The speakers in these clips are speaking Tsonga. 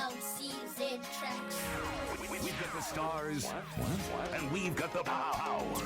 LCZ tracks. We, have got the stars, what? What? and we've got the power.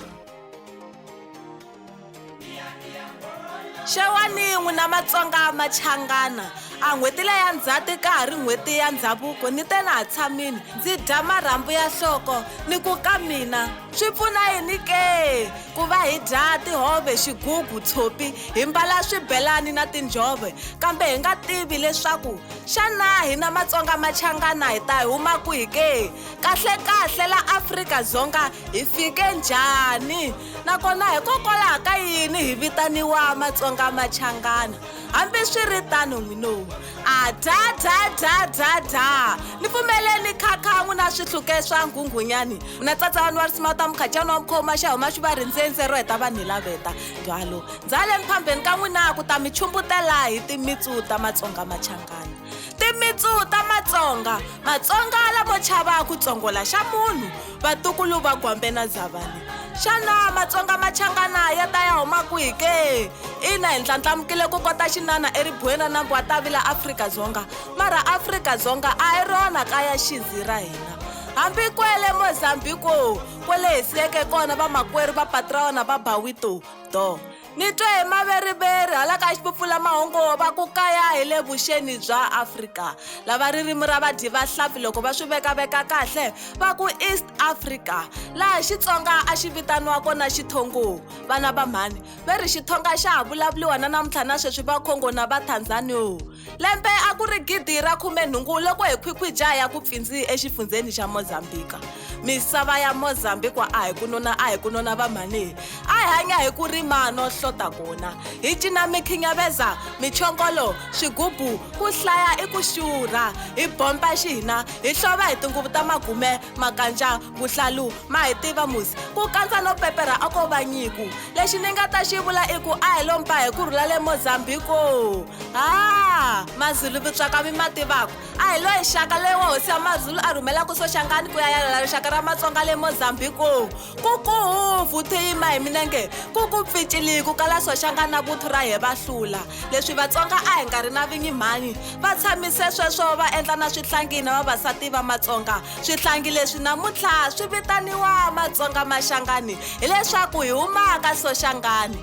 xewani n'wina matsonga machangana a n'hweti leya ndzhati ka ha ri n'hweti ya ndhavuko ni te na ha tshamini ndzi dya marhambu ya nhloko ni ku ka mina swi pfuna yini ke ku va hi dya tihove xigugu tshopi hi mbala swibelani na tinjhove kambe hi nga tivi leswaku Xana hina Matsonga Machangana hi ta huma kwihi ke? Kahle-kahle la Afrika-Dzonga hi fike njhani? Nakona hikokwalaho ka yini hi vitaniwa Matsonga Machangana? Hambi swi ri tano n'winowu, a dha dha dha dha dha! Ni pfumeleni khakha n'wina swihluke swa nghunghunyani, mina tsatsa wa Nwarsimata Mukhacani wa Mukhoma, xa huma xi va rindze ndze ro heta vanhu hi laveta. Ndwalo. Byaleni phambheni ka n'wina ku ta mi chumbutela hi timitsu ta matsonga machangana. Timitsu ta matsonga, matsonga lamo chava ku tsongola xa munhu, vatukulu va gwambe na dzavani. Xana matsonga machangana ya ta ya huma kwihi ke? Ina hi ndlandlamukile ku kota xinana eribuweni ra nambu wa Tavila Afrika-Dzonga, mara Afrika-Dzonga a hi rona kaya xinzi ra hina. Hambi kwele Mozambiko kwele hi siyeke kona vamakwerhu va Patraona va Bawito, do ni twe hi maveriveri hala ka xipupfulamahungu va ku kaya hi le vuxeni bya afrika lava ririmi ra vadyi vahlampfi loko va swi vekaveka kahle va ku east africa laha xitsonga a xi vitaniwa kona xithongo vana va mhani ve ri xithonga xa ha vulavuriwa na namuntlha na sweswi va khongo na va tanzanio Lembe a ku ri gidi ra khumenhungu loko hi khwikhwija ya ku pfindzi exifundzheni xa Mozambika. Misava ya Mozambikwa a hi ku nona a hi ku nona vamhanihi. A hi hanya hi ku rima no hlota kona. Hi cina mikhinyaveza, michongolo, swigubu, ku hlaya i ku xurha. Hi bompa xihina, hi hlova hi tinguvu ta magume, makanja vuhlalu ma hi tiva musi ku kandza no pepera a ko va nyiku lexi ni nga ta xi vula i ku a hi lompa hi ku rhula le mozambiko ha mazulu vutswaka mi ma tivaka a hi loyi xaka loyi wa hosi ya mazulu a rhumelaku soxangani ku ya yalela rixaka ra matsonga le mozambiko Kokohovu the yima hi milenge ku ku pficili ku kala soxanga na vuthu ra he va hlula leswi vatsonga a hi nga ri na vinyi mhani va tshamise sweswo va endla na swihlangi na vavasati va matsonga swihlangi leswi namuntlha swi vitaniwa matsonga maxangani hileswaku hi humaka soxangani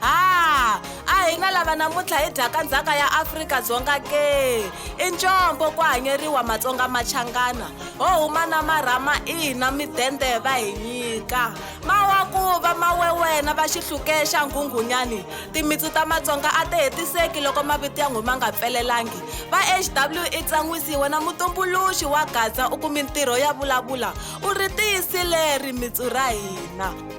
ha a hi nga lava namuntlha hi dyaka ndzhaka ya afrika-dzonga ke i ncombo ku hanyeriwa matsonga machangana ho huma na marhama ina midende va hi nyika mawakuva mawe wena va xihluke xa nghunghunyani timitsu ta matsonga a ti hetiseki loko mavito ya nghuma nga pfelelangi va hw i tsan'wisiwe na mutumbuluxi wa gaza u kumi ntirho ya vulavula u ri tiyisile ri mitsu ra hina